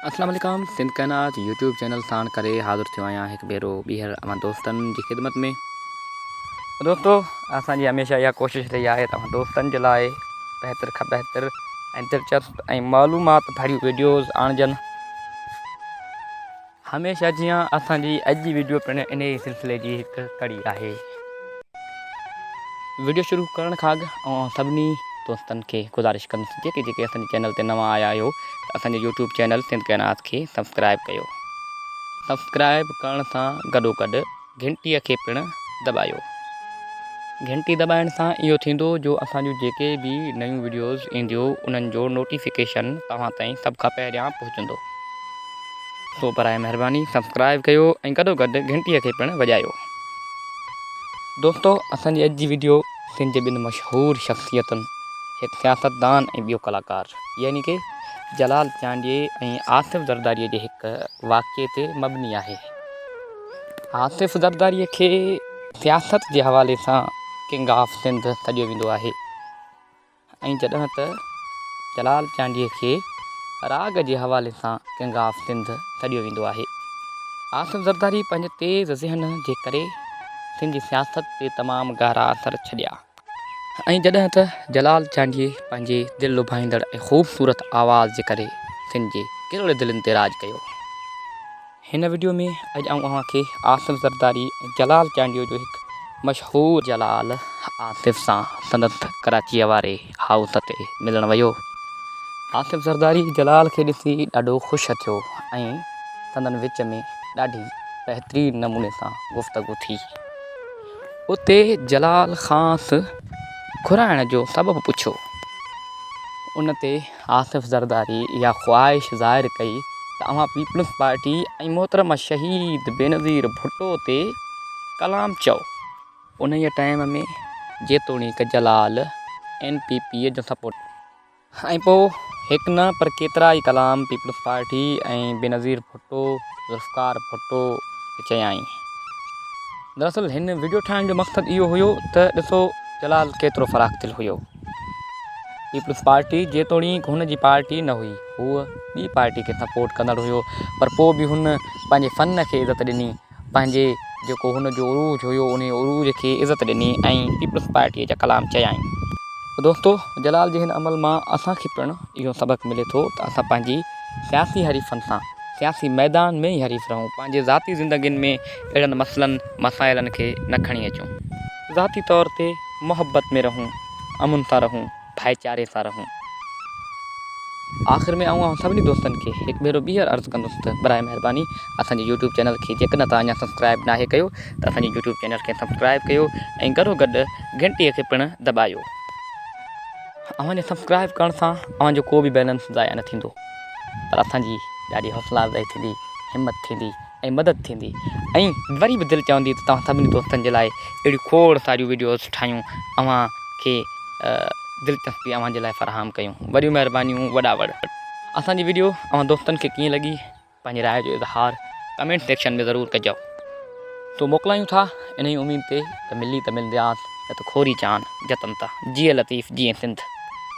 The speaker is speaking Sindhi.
اسلام عليڪم سنڌ ڪائنات يوٽيوب چينل ساڻ ڪري حاضر ٿيو آهيان هڪ ڀيرو ٻيهر اوهان دوستن جي خدمت ۾ دوستو اسان جي هميشه اها ڪوشش رهي آهي ته اوهان دوستن جي لاء بهتر کان بهتر ۽ دلچسپ ۽ معلومات ڀريون ويڊيوز آڻجن. هميشه جيان اسان جي اڄ جي وڊيو پڻ انهي ئي سلسلي جي هڪ ڪڙي آهي. وڊيو شروع ڪرڻ کان اڳ اوهان سڀني دوستن کي گذارش ڪندس جيڪي جيڪي اسان جي چينل تي نوان آيا آهيو ته اسان جي يوٽيوب چينل سنڌ ڪائنات کي سبسڪرائب ڪيو سبسڪرائب ڪرڻ سان گڏو گڏ گهنٽيء کي پڻ دٻايو. گهنٽي دٻائڻ سان اهو ٿيندو جو اسان جون جيڪي به نيون وڊيوز اينديو انهن جو نوٽيفڪيشن توهان تائين سڀ کان پهريان پهچندو. سو براء مهرباني سبسڪرائيب ڪيو ۽ گڏو گڏ گهنٽيء کي پڻ وڄايو. دوستو اسان جي اڄ جي وڊيو سنڌ جي ٻن مشهور شخصيتن هڪ سياستدان ۽ ٻيو ڪلاڪار يعني ڪي جلال چانڊيي ۽ آصف زرداريء جي هڪ واقعي تي مبني آهي. آصف زرداريء کي سياست جي حوالي سان ڪنگ آف سنڌ سڏيو ويندو آهي ۽ جڏهن ته جلال چانڊيي کي راڳ جي حوالي سان ڪنگ آف سنڌ سڏيو ويندو آهي. آصف زرداري پنهنجي تيز ذهن جي ڪري سنڌ جي سياست تي تمام گهرا اثر ڇڏيا. ۽ جڏهن ته جلال چانڊيي پنهنجي دل لڀائيندڙ ۽ خوبصورت آواز جي ڪري سنڌ جي ڪرڙ دلين تي راڄ ڪيو. هن وڊيو ۾ اڄ آئون اوهان کي آصف زرداري ۽ جلال چانڊيو جو هڪ مشهور. جلال آصف سان سندس ڪراچيء واري هائوس تي ملڻ ويو. آصف زرداري جلال کي ڏسي ڏاڍو خوش ٿيو ۽ سندن وچ ۾ ڏاڍي بهترين نموني سان گفتگو ٿي. اتي جلال کانئس گهرائڻ جو سبب پڇيو. ان تي آصف زرداري اها خواهش ظاهر ڪئي ته اوهان پيپلز پارٽي ۽ محترمه شهيد بينظير ڀٽو تي ڪلام چئو. انهيء ٽائيم ۾ جيتوڻيڪ جلال اين پي پي جو سپورٽر ۽ پوء هڪ نه پر ڪيترا ئي ڪلام پيپلز پارٽي ۽ بينظير ڀٽو، ذوالفقار ڀٽو به چيائين. دراصل هن وڊيو ٺاهڻ جو مقصد اهو هيو ته ڏسو جلال ڪيترو فراخ دل هيو. پيپلز پارٽي جيتوڻيڪ هن جي پارٽي نه هئي، هو ٻي پارٽي کي سپورٽ ڪندڙ هيو پر پوء به هن پنهنجي فن کي عزت ڏني ۽ پنهنجي جيڪو هن جو عروج هيو انهي عروج کي عزت ڏني ۽ پيپلز پارٽيء جا ڪلام چيائين. دوستو جلال جي هن عمل مان اسان کي پڻ اهو سبق ملي ٿو ته اسان پنهنجي سياسي حريفن سان سياسي ميدان ۾ ئي حريف رهون پنهنجي ذاتي زندگين ۾ اهڙن مسئلن مسائلن کي نه کڻي اچون. ذاتي طور تي محبت ۾ رهون امن سان رهون. ڀائيچاري سان رهون. آخر ۾ آئون اوهان سڀني دوستن کي هڪ ڀيرو ٻيهر عرض ڪندس ته برائي مهرباني اسان جي يوٽيوب چينل کي جيڪڏهن توهان اڃا سبسڪرائيب ناهي ڪيو ته اسان جي يوٽيوب چينل کي سبسڪرائيب ڪيو ۽ گڏو گڏ گهنٽي کي پڻ دٻايو. اوهان جي سبسڪرائيب ڪرڻ سان اوهان جو ڪو به بيلنس ضايع نه ٿيندو پر اسان جي ڏاڍي حوصلا افزائي ٿيندي همت ٿيندي. ۽ مدد ٿيندي ۽ وري به دل چوندي ته توهان سڀني دوستن جي لاء اهڙيون کوڙ ساريون وڊيوز ٺاهيون اوهان کي دلچسپي اوهان جي لاء فراهم ڪيون وڏيون مهربانيون وڏا وڙ. اسان جي وڊيو اوهان دوستن کي ڪيئن لڳي پنهنجي راء جو اظهار ڪمينٽ سيڪشن ۾ ضرور ڪجو تو موڪلايون ٿا انهي اميد تي ته ملي ته ملندياس نه ته کوري چان جتن ته جيئي لطيف جيئي سنڌ.